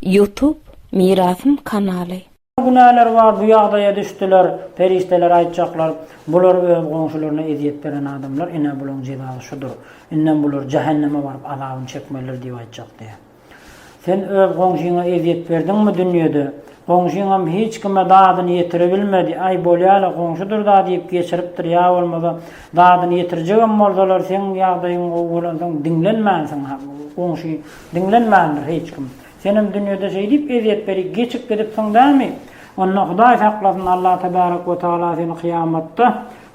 Youtube mirasym kanaly. Günäleri bar bu ýagdaýa düşdüler perişdeler aýtjaklar bular öz goňşularyna ezýet beren adamlar ine bulaň jezasy şudur indem bular jähenneme baryp azabyny çekmelidir diýip aýtjak diýýär sen öz goňşyňa ezýet berdiňmi dünýede goňşyňam hiç kime dadyny ýetirebilmedi aý bolýala goňşudyr da diýip geçiripdir ýa bolmasa dadyny ýetirjegem bolsalar seň ýagdaýyň gowy bolansoň diňlenmänsiň goňşy Diňlenmändir hiç kim. Senem dünýede şeýdip ezýet berip geçip gidipsiň dämi? Onda Hudaý saklasyn Allah tebarek we taala seni kyýamatda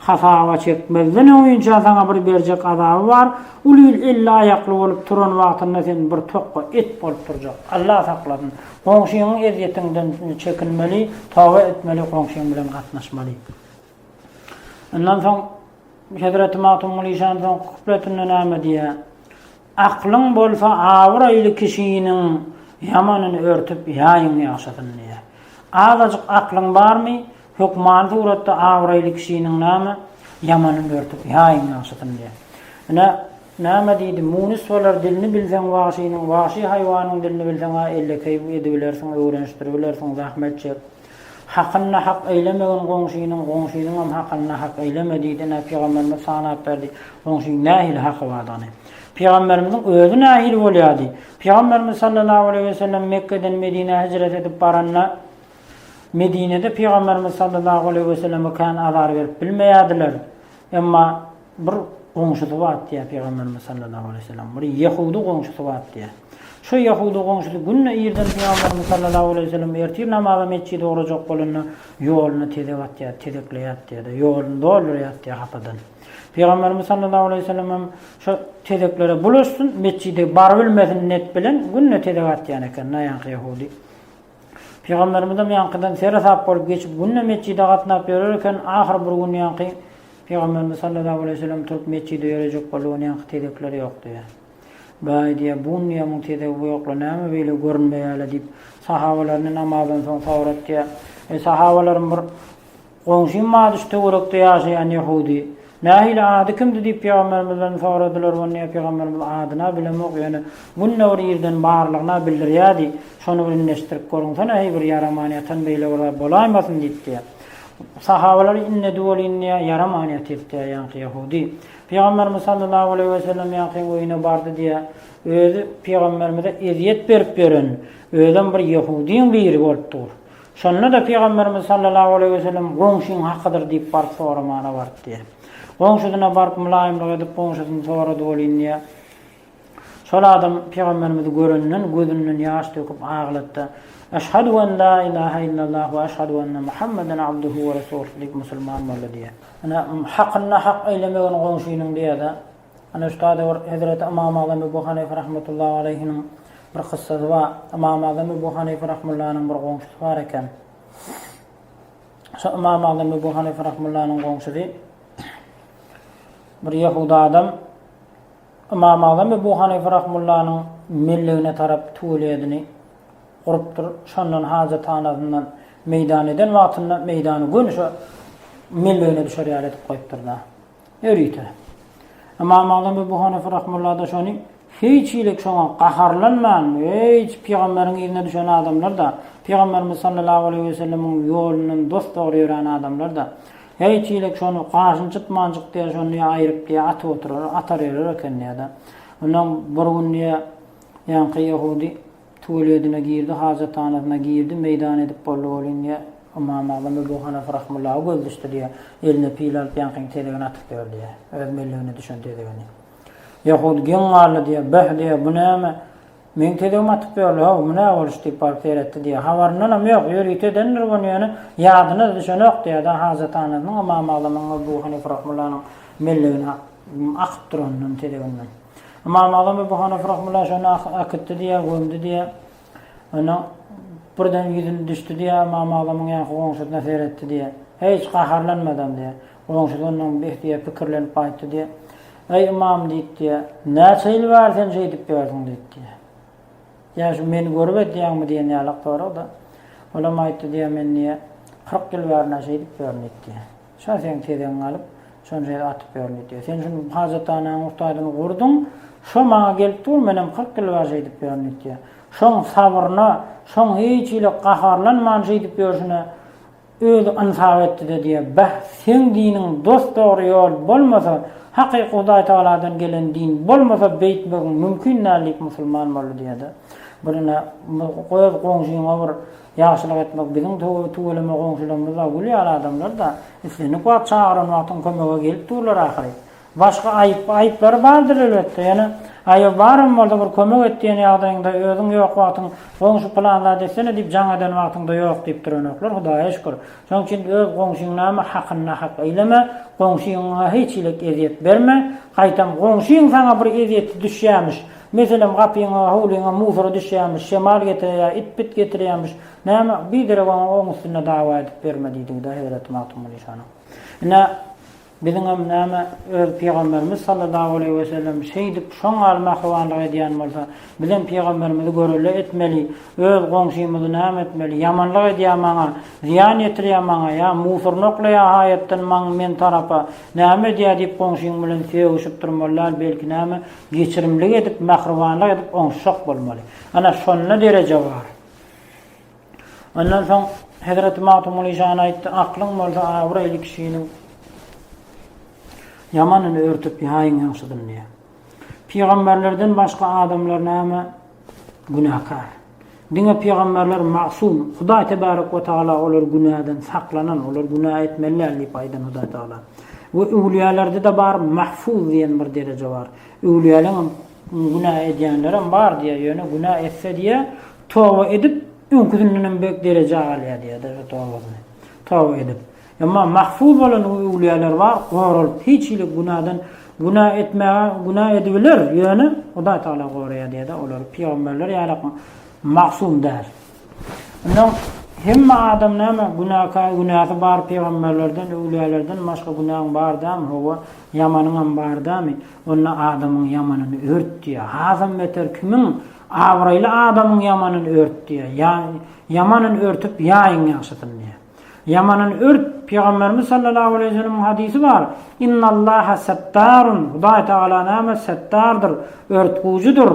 hasaba çekmezden öňinçä saňa bir berjek azaby bar, ol il elli aýakly bolup turan wagtynda sen bir tokga et bolup turjak. Allah saklasyn. Goňşyňyň ezýetinden çekinmeli, toba etmeli goňşyň bilen gatnaşmaly. Ondan soň Hezreti Magtymguly şanyň soňky kupleti näme diýýär? Aklyň bolsa abraýly kişiniň ýamanyny örtüp ýaýyň ýagşysyny diýýär. Azajyk aklyň barmy, hökmany suratda abraýly kişiniň näme, ýamanyny örtüp ýaýyň ýagşysyny diýýär. Ine, näme diýdi, Munys bolar, dilini bilseň wagşynyň, wagşy haýwanyň dilini bilseň-ä ellekeý edibilersiň, öwrenişdiribilersiň, zähmet çek. Hakyny nahak eýlemegin goňşynyň, goňşynyňam hakyny nahak eýleme diýdi. Ine, pygamberimiz sanap berdi, goňşynyň nähili haky bardygny. Pygamberimiziň özi nähili bolýardy? Pygamberimiz sallallahu aleýhi we sellem Mekgeden Medinä hijret edip baranda, Medinede pygamberimiz sallallahu aleýhi we selleme kän azar berip bilmeýärdiler. Emma. Bir goňşusy bar diýýär Pygamberimiz sallallahu aleýhi we sellem. Bir ýehudy goňşusy bar diýýär. Şu ýehudy goňşusy günde irden Pygamberimiz sallallahu aleýhi we sellem ertir namaza metjide ugrajak bolanda ýoluny tezek atýar, tezekleýär diýýär-de, ýoluny doldurýar diýýär hapadan. Pygamberimiz sallallahu aleýhi we sellem hem şo tezeklere bulaşsyn, metjide barybilmesin net bilen günde tezek atýan eken naýanky ýehudy. Pygamberimizem ýaňkydan sere-sap bolup geçip, günde metjide gatnap ýörer eken, ahyr bir gün ýaňky Pygamberimiz sallallahu aleýhi wesellem turup metjide ýörejek boldy, ony ýaňky tezekler ýok diýýä. Baý diýýä, bun diýýä muň tezegi bu ýokla näme beýle görünmeýäle diýip, sahabalaryny namazdan soň sorat diýýä. Eý sahabalarym bir Goňşym Madyş töwerekde ýaşaýan ýahudy. Nähili, ady kimdi diýip pygamberimizden soradylar, onda pygamberimiz adyna bilemok, ýöne günde bir ýerden barlygyna bildirýärdi, şony bir indeşdirip görüňsene, heý bir ýaraman ýatan beýle bir zat bolaýmasyn diýip diýýär. Sahabalary indedi welin diýýär, ýaraman ýatyr diýýär ýaňky ýahudy. Pygamberimiz sallallahu aleýhi we sellem ýaňky öýüne bardy diýýär, özi pygamberimize ezýet berip ýören özem bir ýahudyň biri bolup dur. Şonda-da Pygamberimiz sallallahu aleýhi we sellem Goňşyň hakydyr diýip baryp soramana bart diýer. Goňşusyna baryp mylaýymlyk edip goňşusyny sorady welin diýer, Şol adam Pygamberimizi görenden gözünden ýaş döküp aglatdy. Eşhadu en la ilahe illallah we eşhadu enne Muhammeden abduhu we resuluh diýip musulman boldy diýer. Ine, hakynda hak eýlemegin goňşynyň diýer-de. Ine, şu taýda bir hezreti Ymam Azam Ebu Hanyfa rahmetullahi aleýhiniň bir kyssasy bar. Ymam Azam Ebu Hanyfa rahmullanyň bir goňşusy bar eken. Şo Ymam Azam Ebu Hanyfa rahmullanyň goňşusy bir ýehudy adam Ymam Azam Ebu Hanyfa rahmullanyň mellegine tarap tuwelýedini urupdyr. Şondan hajathanasyndan meýdan eden wagtynda meýdany göni şo mellegine düşer ýaly edip goýupdyr-da. Ýörite. Ymam Agzam Ebu Hanyfa rahmullada şony hiç hili şoňa gaharlanman, hiç pygamberiň yzyna düşen adamlar-da, pygamberimiz sallallahu aleýhi we sellemiň ýolundan dos-dogry ýörän adamlar-da, hiç hili şony gaşyny çytmanjyk diýýär, şony diýýär aýryp diýýär atyp oturar, atar erer eken diýýär-de. Ondan bir gün diýýär, ýaňky ýehudi. Tuweledyna girdi, hajathanasyna girdi, meýdan edip boldy welin, ýa Ymamagzam Ebu Hanafa rahmullahu göz düşdi diýýär. Eline pil alyp ýaňkyňky tezegini atyp ýör diýýär. Öz mellegine düşen tezegini. Ýahud geň galdy diýýär. Beh diýýär, bu näme? Meň tezegimi atyp ýörler, haw, bu nä boluş diýip baryp seretdi diýýär. Habaryndanam ýok, ýörite edendir muny ýöne ýadyna-da düşenok diýýär-de, hajathanasynyň Ymamagzamyň Ebu Hanifa rahmullanyň mellegine akyp duranyndan, tezeginden. Ymam Agzam Ebu Hanyfa rahimullah şony akytdy diýýär, gömdi diýýär. Ondan birden ýüzüni düşdi diýýär, Ymam Agzamyň ýanky goňşusyna seretdi diýýär. Hiç gaharlanmadam diýýär. Goňşusy ondan beh diýýär, pikirlenip gaýtdy diýýär. Eý ymam diýip diýýär, näçe ýyl bäri sen şeýdip ýörsüň diýip diýýär. Ýa şu meni görüp edýäňmi diýen ýalak soragda, olam aýtdy diýýär, men diýýär, kyrk ýyl bäri-nä şeýdip ýörün diýip diýýär. Şa seň tezegiňi alyp, şony şeýle atyp ýörün diýdi. Sen şuny hajathanaň urtaýdyny gurduň, şo maňa gelip dur, menem kyrk ýyl bar şeýdip ýörün diýdi. Şoň sabryna, şoň hiç hili gaharlanman şeýdip ýörşüne özi ynsap etdi-de diýýä, Bäh, seň diniň dos-dogry ýol bolmasa, hakyky Hudaýtagaladan gelen din bolmasa beýtmegiň mümkin däl diýip musulman boldy diýýä-de. Bir ine, goý öz goňşyňa bir Ýagşylyk etmek biziň tüweleme goňşularymyzda gül ýaly adamlar-da, islendik wagt çagyran wagtyň kömege gelip durlar ahyry. Başga aýyp, aýyplary bardyr elbetde, ýöne aýyby baram bolsa bir kömek et diýen ýagdaýyňda özüň ýok wagtyň goňşy pylan zat etsene diýip jaň eden wagtyňda ýok diýip duranoklar Hudaýa şükür. Şonuň üçin öz goňşyň näme hakyny nahak eýleme, goňşyňa hiç hilik ezýet berme, gaýtam goňşyň saňa bir ezýeti düşýämiş, Meselem, gapyňa, howlyňa musora düşýämiş, şemal getireýär, it-pit getirýämiş. Näme, biderek oňa oň üstünde dawa edip berme diýdigi-dä Hezreti Magtymguly şonuň. Ine, biziňem näme, öz Pygamberimiz sallallahu aleýhi wesellem şeýdip, şoň ýaly mähribanlyk edýän bolsa, bizem Pygamberimizi görelde etmeli, öz goňşymyzy näme etmeli, ýamanlyk edýär maňa, zyýan ýetirýär maňa, ýa musoryny oklaýar haýatdan maň, men tarapa, näme edýär diýip goňşyň bilen sögüşip durmaly däl, belki näme, Geçirimlik edip, mähribanlyk edip oňuşjak bolmaly. Ana şonda dereje bar. Ondan soň Hezreti Magtymguly Jan aýtdy, Aklyň bolsa abraýly kişiniň ýamanyny örtüp ýaýyň ýagşydyny diýýär. Pygamberlerden başga adamlar näme günäkär. Diňe pygamberler magsum, Hudaý Tebarek we Tagala olar günäden saklanan, olar günä etmeli däl diýip aýdan Hudaý Tagala. We öwlüýälerde-de bar mahfuz diýen bir dereje bar. Öwlüýäleňem günä edýänlerem bar diýýär, ýöne günä etse diýýär, toba edip, öňküsindenem beýik derejä galýar diýýär-de, şo tobasyny. Toba edip. Emma mahfuz bolan o öwlüýäler bar, goralyp, hiç hili günadan günä etmäge günä edibiler, ýöne Hudaý Tagala goraýar diýýär-de olary, pygamberler ýaly magsum däl. Ondan hemme adam näme günäkär, günäsi bar pygamberlerden, öwlüýälerden başga günäň bar dämi, hawa, ýamanyňam bar dämi, onda adamyň ýamanyny ört diýýär. Hasam beter kimiň abraýly adamyň ýamanyny ört diýýär, ýa ýamanyn örtüp, ýaýyň ýagşysyn diýýär. Ýamandan ört, Pygamberimiz sallallahu aleýhi ve sellemiň hadysy bar, Innallaha settarun, Hudaý tagala näme settardyr, örtgüwjüdir,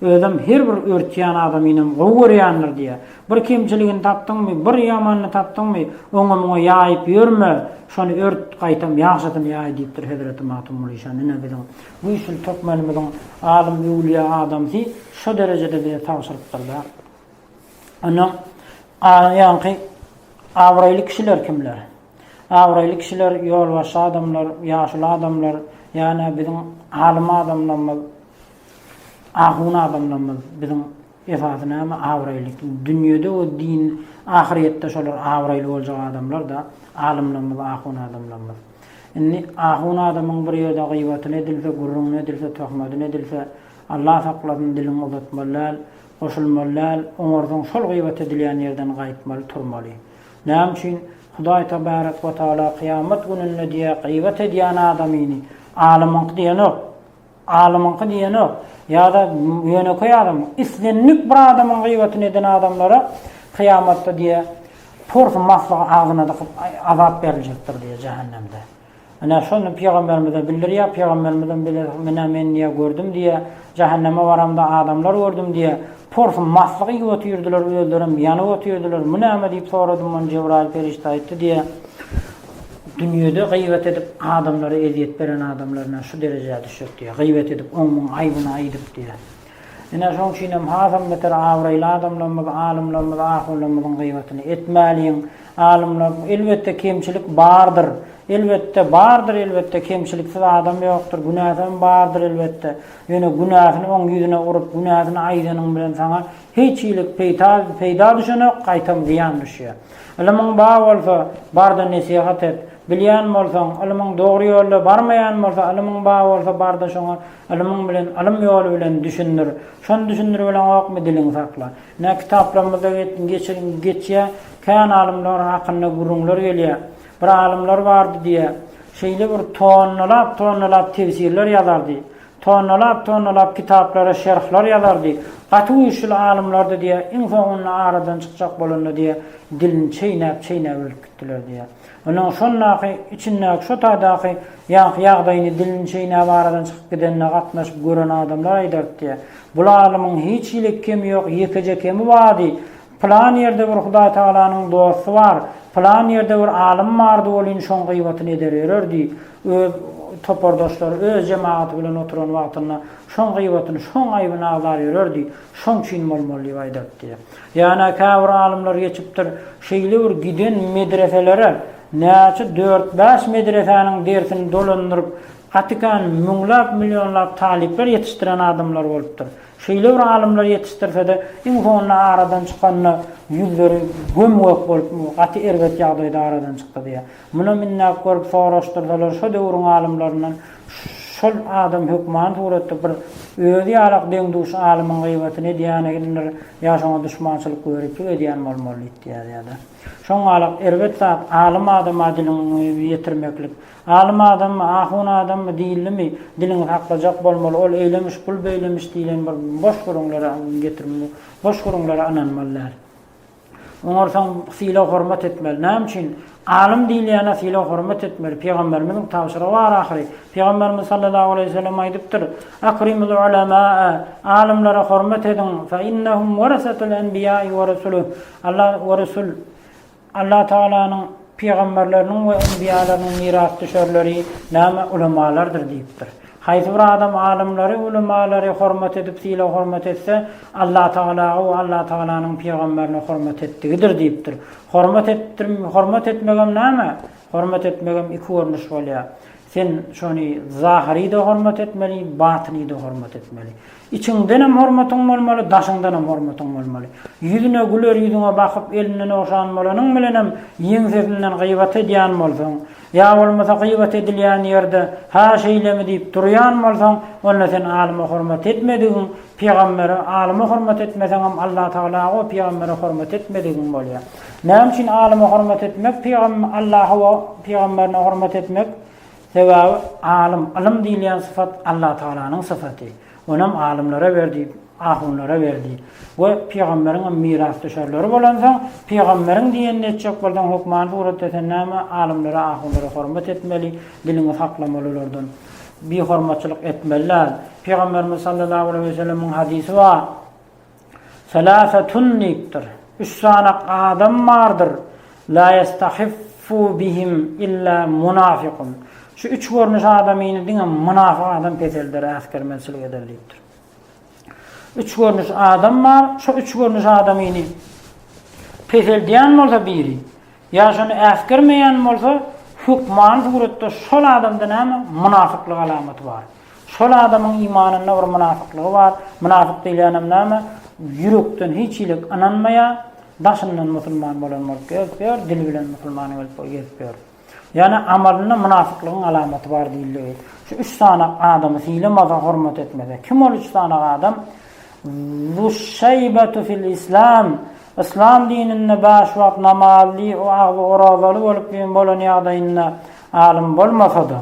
özem her bir örtýän adamynam gowy görýändir diýýär. Bir kemçiligini tapdyňmy, bir ýamanyny tapdyňmy, oňa muňa ýaýyp ýörme, şony ört, gaýtam ýagşysyny ýaý diýipdir Hezreti Magtymgulyşan ine biziň güýçli türkmenimiziň alym öwlüýä adamsy şo derejede bize tabşyrypdyrda. Ondan ýaňky abraýly kişiler kimler? Abraýly kişiler ýolbaşçy adamlar, ýaşuly adamlar, ýa-da biziň alym adamlarymyz, ahun adamlarymyz biziň esasy näme abraýly dünýede we din ahyrýetde şolar abraýly boljak adamlar-da alymlarymyz, ahun adamlarymyz. Indi ahun adamyň bir ýerde gybatyny edilse, gürrüňini edilse, töhmetini edilse, Allah saklasyn diliňi uzatmaly däl, Goşulmaly däl, oňarsaň şol gybat edilýän ýerden gaýtmaly turmaly. Näme üçin? Hudaý Tebarek we Taala kyýamat gününde diýýär gybat edýän adamyny alymyňky diýenok, alymyňky diýenok, ýada ýönekeý adam, islendik bir adamyň gybatyny eden adamlara kyýamatda diýýär porsy maslygy agzyna dykyp azap beriljekdir diýýär jähennemde. Ine, şony pygamberimize bildirýär, pygamberimizem bize, Menä men diýýär, gördüm diýýär, jähenneme baramda adamlar gördüm diýýär. Porsy maslyk iýip otyrdylar, özlerem ýanyp otyrdylar. Bu näme diýip soradym, ony Jebraýyl perişde aýtdy diýýär. Dünýede gyýbat edip, adamlara ezýet beren adamlar ine şu derejä düşjek diýýär. Gyýbat edip, oň-muň aýbyny aýdyp diýýär. Ine, şoň üçinem hasam beter abraýly adamlarymyz, alymlarymyz, ahunlarymyzyň gyýbatyny etmäliň. Alymlar, elbetde, kemçilik bardyr. Elbetde, bardyr, elbetde, kemçiliksiz adam ýokdur. Günäsi hem bardyr, elbetde. Ýöne günäsini oň ýüzüne urup, günäsini aýdanyň bilen saňa hiç hili peýta, peýda düşenok, gaýtam zyýan düşýär. Ylymyň bar bolsa, bar-da nesihat et. Bilýän bolsaň, ylymyň dogry ýolda barmaýan bolsa, ylymyň bar bolsa, bar-da şoňa Ylymyň bilen, ylym ýoly bilen düşündir. Şony düşündirip bileňokmy, diliňi sakla. Nä kitaplarymyzda geçýär, kän alymlaryň hakynda gürrüňler gelýär. Bir alymlar bardy diýýär, şeýle bir tonnalap-tonnalap tefsirler ýazardy, tonnalap-tonnalap kitaplara şerhler ýazardy, gaty güýçli alymlardy diýýär, iň soňunda aradan çykjak bolanda diýýär, dilini çeýnäp-çeýnäp ölüp gitdiler diýýär. Onuň şondaky, içindäki şo taýdaky ýaňky ýagdaýyny dilini çeýnäp aradan çykyp gidenine gatnaşyp gören adamlar aýdardy diýýär. Bu lalymyň hiç hili kemi ýok, ýekeje kemi bardy, Pylan ýerde bir Hudaý Tagalanyň dosty bar, pylan ýerde bir alym bardy welin şoň gyýbatyny eder ýörer diýip, öz topardaşlary, öz jemagaty bilen oturan wagtynda şoň gyýbatyny, şoň aýbyny agzar ýörerdi, şoň üçin bolmaly diýip aýdardy diýýär. Ýana käbir alymlar geçipdir, şeýle bir giden medreselere näçe dört-bäş medresäniň dersini dolandyryp, gatykan müňläp-millionlap talyplar ýetişdiren adamlar bolupdyr. Şeýle bir alymlar ýetişdirse-de, iň soňunda aradan çykanda ýüzleri göm-gök bolup, gaty erbet ýagdaýda aradan çykdy diýýär. Muna minnäp görüp soraşdyrsalar şo döwrüň alymlaryndan şol adam hökman suratda bir özi ýalak deň-duş alymyň gybatyny edýänidir ýa şoňa duşmançylyk göriplik edýän bolmaly diýip ýazýarda. Şoň galak erbet zat alym adama diliňi ýetirmeklik. Alym adammy, ahun adammy diýildimi, diliňi saklajak bolmaly, ol eýlemiş, bul beýlemiş diýlen bir boş gürrüňlere getirmeli, boş gürrüňlere ynanmaly däl. Oňarsaň sylag-hormat etmeli. Näme üçin? Alym diýilýäne sylag-hormat etmeli. Pygamberimiziň tabşyrygy bar ahyry. Pygamberimiz sallallahu aleýhi we sellem aýdypdyr, Akrimul ulemäe, Alymlara hormat ediň, fe innehum warasatul enbiýae we rusuh, Alla we rusul, Alla Tagalanyň Pygamberleriniň we enbiýalarynyň mirasdüşerleri näme ulemalardyr diýipdir. Haýsy bir adam alymlary, ulemalary, hormat edip, sylag hormat etse, Allatagalaga we Allatagalanyň pygamberine hormat etdigidir diýipdir. Hormat etdim, hormat etmegem näme? Hormat etmegem iki görnüş bolýar. Sen şony zahyry-da hormat etmeli, batyny-da hormat etmeli. Içiňdenem hormatyň bolmaly, daşyňdanam hormatyň bolmaly. Ýüzüne güler ýüzüňe bakyp, elinden ogşan bolanyň bilenem ýeňsesinden gybat edýän bolsaň, ýa bolmasa gybat edilýän ýerde Ha şeýlemi diýip durýan bolsaň, onda sen alyma hormat etmedigiň, pygambere, alyma hormat etmeseňem Allatagala goý pygambere hormat etmedigiň bolýar. Näme üçin alyma hormat etmek, pygam Allaha we pygamberine hormat etmek? Sebäbi alym, ylym diýilýän syfat Allatagalanyň syfaty. Onem alymlara berdi, ahunlara berdi. We pygamberiňem mirasdüşerleri bolansoň, pygamberiň diýenini etjek bolsaň, hökmany suratda sen näme alymlara, ahunlara hormat etmeli, diliňi saklamaly olardan. Bihormatçylyk etmeli däl. Pygamberimiz sallallahu aleýhi we sellemiň hadysy bar. Seläsetun diýipdir, Üç sany adam bardyr, Lâ ýestahiffu bihim illâ munafykun. Şu üç görnüş adamyny diňe mynafyk adam peselder, äsgermezçilik eder diýipdir. Üç görnüş adam bar, şo üç görnüş adamyny peseldýän bolsa biri, ýa şony äsgermeýän bolsa, hökmany suratda şol adamda näme, mynafyklyk alamaty bar. Şol adamyň imanynda bir mynafyklygy bar, mynafyk diýilýänem näme, ýürekden hiç hili ynanmaýar, daşyndan musulman bolan bolup gezip ýör, dili bilen musulman bolup gezip ýör. Ýagny amalynda mynafyklygyň alamaty bar diýildigi. Şu üç sany adamy sylamasa, hormat etmese. Kim ol üç sany adam? Züşşeýbetu fil islam, yslam dininde bäş wagt namazly, o agzy orazaly bolup bolan ýagdaýynda alym bolmasa-da,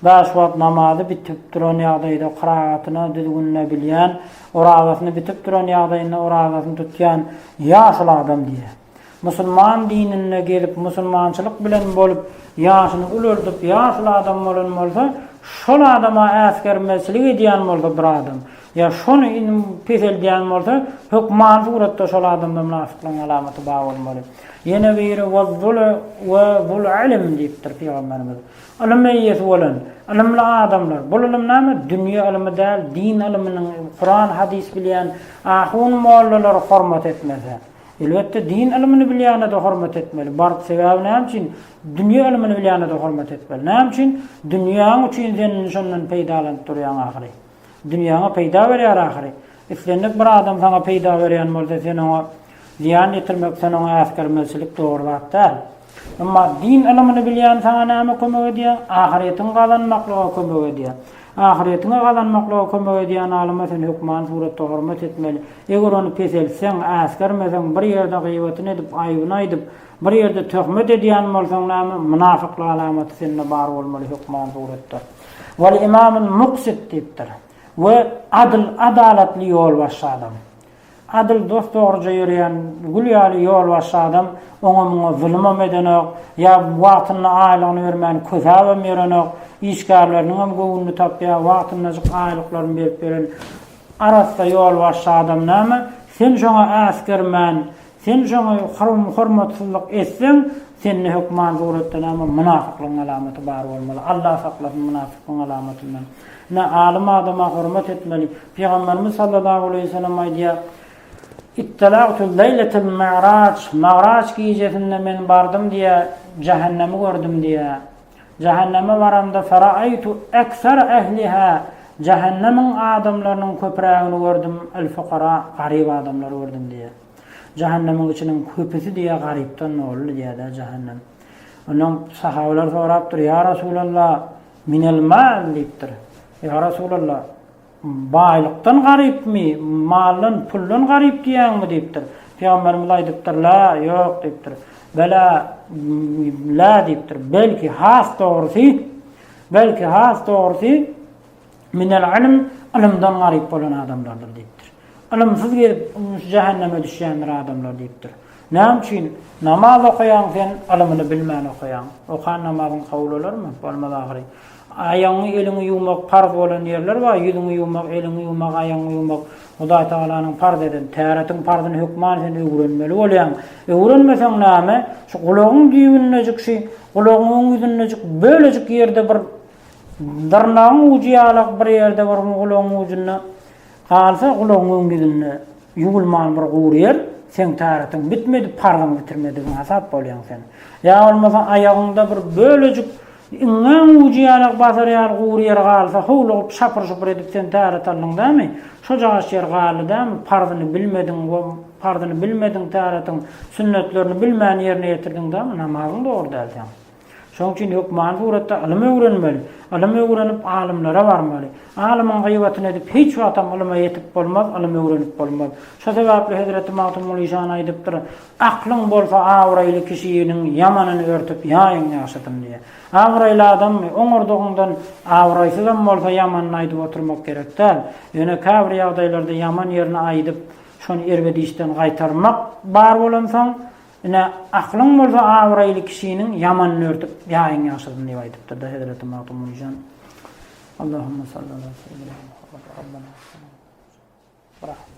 Bäş wagt namazy bitip duran ýagdaýda kyragatyna düzgünine bilýän, orazasyny bitip duran ýagdaýynda orazasyny tutýan ýaşuly adam diýýär. Musulman dininde gelip musulmançylyk bilen bolup ýaşyny ulaldyp ýaşuly adam bolan bolsa, şol adama äsgermezçilik edýän bolsa bir adam, ýa şony in peseldýän bolsa hökman suratda şol adamda mynafyklygyň alamaty bar bolmaly. Ýene biri Waz-zul we zul-ilm diýipdir Pygamberimiz. Ylym eýesi bolan, ylymly adamlar, bul ylym näme, dünýe ylmy däl, din ylymynyň, Kuran, hadys bilýän ahun, mollalary hormat etmese, elbetde, din ylymyny bilýäne-de hormat etmeli, baryp, sebäbi näme üçin, dünýe ylymyny bilýäne-de hormat etmeli. Näme üçin, dünýäň üçin sen indi şondan peýdalanyp durýaň ahyry. Dünýäňe peýda berýär ahyry. Islendik bir adam saňa peýda berýän bolsa, sen oňa zyýan ýetirmek, sen oňa äsgermezçilik dogry zat däl. Emma din ylymyny bilýän saňa näme kömek edýär? Ahyretiňi gazanmaklyga kömek edýär. Ahyretiňi gazanmaklyga kömek edýän alyma sen hökman suratda hormat etmeli. Eger ony peseltseň, äsgermeseň, bir ýerde gyýbatyny edip, aýbyny aýdyp, bir ýerde töhmet edýän bolsaň näme, mynafyklyk alamaty sende bar bolmaly hökman suratda. Wal-imamul-muksit diýipdir. We adyl, adalatly ýolbaşçy adam. Adyl dost dogruja ýöreýän gül ýaly ýolbaşçy adam oňa-muňa zulumam edenok, ýa wagtynda aýlygyny bermän kösäbem ýörenok, işgärleriniňem göwnüni tapýar, wagtyndajyk aýlyklaryny berip ýören arassa ýolbaşçy adam näme, sen şoňa äsgermän, Sen şoňa hormatsyzlyk etseň, sende hökman suratda näme, mynafyklygyň alamaty bar bolmaly. Allah saklasyn mynafyklygyň alamatyndan. Ine, alym adama hormat etmeli. Pygamberimiz sallallahu aleýhi we sellem aýdýar, Ittalagtu leýletel mi'raç, Magraç gijesinde men bardym diýýär, jähennemi gördüm diýýär. Jähenneme baramda feraaytu eksere ehliha jähennemiň adamlarynyň köpürägini gördüm el-fukara garyp adamlary gördüm diýýär. Jähennemiň içiniň köpüsi diýýär garypdan doly diýýär-de jähennem. Ondan sahabeler sorapdyr, Ýa Resulallah, minel mal diýipdir. Ýa Resulallah, Baýlykdan garypmy, maldan, puldan garyp diýýäňmi? diýipdir. Pygamberimiz aýdypdyr, Lä, ýok diýipdir. Belä, lä diýipdir. Belki, has dogrusy, belki, has dogrusy, minel ilm, ylymdan garyp bolan adamlardyr diýipdir. Ylymsyz gezip, şu jähenneme düşýändir adamlar diýipdir. Näme üçin? Namaz okaýaň sen, ylymyny bilmän okaýaň. Okan namazyň kabul bolarmy? Bolmaz ahyry. Aýagyňy eliňi ýuwmak parz bolan ýerler bar, ýüzüňi ýuwmak, eliňi ýuwmak, aýagyňy ýuwmak Hudaý Tagalanyň parz eden, täretiň parzyny hökman sen öwrenmeli bolýaň. Öwrenmeseň näme, şu gulagyň düýbündejik şy gulagyň öň ýüzündejik bölejik ýerde bir dyrnagyň ujy ýalak bir ýerde bir gulagyň ujunda galsa gulagyň öň ýüzünde ýuwulman bir gury ýer seň täretiň bitmedi, parzyňy bitirmedigiňi hasap bolýaň sen. Ýa bolmasa aýagyňda bir bölejik Iňňäň ujy ýalak basar ýaly gury ýer galsa, howlugyp, şapyr-şupur edip sen täretaldyň dämi? Şojagaç ýer galdy dämi? Parzyny bilmediň we parzyny bilmediň täretin, sünnetlerini bilmän ýerine ýetirdiň dämi? Namazyň dogry däl seň. Şonuň üçin hökmany suratda ylym öwrenmeli. Ylym öwrenip, alymlara barmaly. Alymyň gyýbatyny edip, hiç wagtam ylyma ýetip bolmaz, ylym öwrenip bolmaz. Şo sebäpli hezreti Magtymguly şan aýdypdyr, Aklyň bolsa abraýly kişiniň ýamanyny örtüp ýaýyň ýagşysyny diýýär. Abraýly adamy oňardygyňdan abraýsyzam bolsa ýamanyny aýdyp oturmak gerek däl. Ýöne käbir ýagdaýlarda ýaman ýerini aýdyp, şony erbedişden gaýtarmak bar bolansoň, ine, aklyň bolsa abraýly kişiniň ýamanyny örtüp ýaýyň ýagşysyny diýip aýdypdyrda hezreti Magtymguly jan. Allahumma salli ala seýidina Muhammad Rabbana salli ala Muhammad.